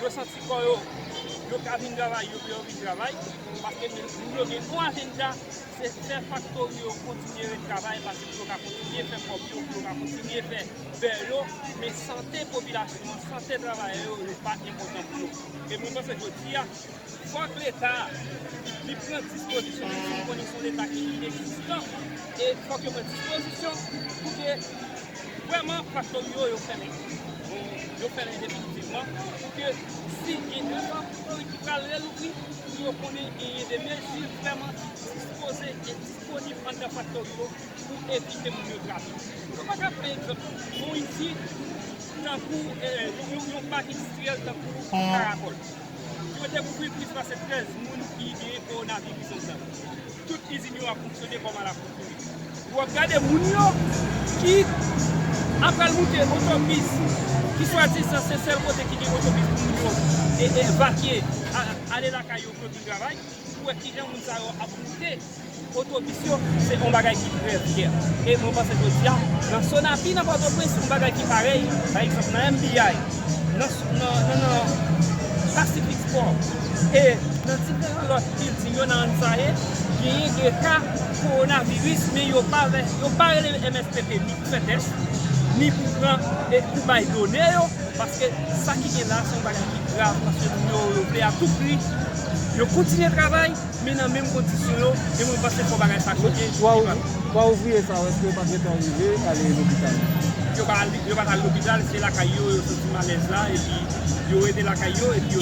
Yo santi kò yo, yo ka vin travay yo pou yo vin travay, paske moun yo gen yon ajenda, se fè faktori yo kontinye ret travay pase pou yo ka kontinye fè kòb yo, pou yo ka kontinye fè bè yo, men sante popilasyon an, sante travayè yo, yo pa enpòtan pou yo. E mwen panse jodi a. Fòk leta li pran dispozisyon paske nou konnen son leta ki inexistan e fòk yo pran dispozisyon pou ke vrèman faktori yo yo fèmen yo fèmen definitivman pou ke si gen yon faktori ki pral relouvri pou yo konnen genyen de mezi vrèman ki dispoze e disponib anndan faktori yo pou evite moun yo trase nou pa ka pran egzanp yon izin tankou yon pak endistriyèl tankou karagòl. Yo dekouvri plis pase 13 moun ki genyen kowonaviris ansanm. Tout izin yo ap fonksyone kòm alakoutume. Yo ap gade moun yo ki ap pral moute otobis ki swadizan se sèl kote ki gen otobis pou moun yo evakye ale lakay yo pou yo vin travay pou wè kijan moun sa yo ap moute. Otobis yo se yon bagay ki trè vyè e mwen panse jodi a nan Sonapi nan Pòtoprens yon bagay ki parèy pa egzanp nan MBI nan Pacific Sport e nan diferan lòt bilding yo nan Ansaye genyen 2 ka kowonaviris men yo pa rele mspp ni pou fè tès ni pou pran e pou bay done yo paske sa ki gen la se yon bagay ki grav paske moun yo vle a tou pri yo kontinye travay. Men nan menm kondisyon yo, e mwen panse fò bagay sa chanje, li pa fèt. Twa ouvriye sa yo eske yo pa t gentan rive ale lopital? Yo pa t al lopital, se lakay yo yo santi malèz la epi yo rete lakay yo epi yo.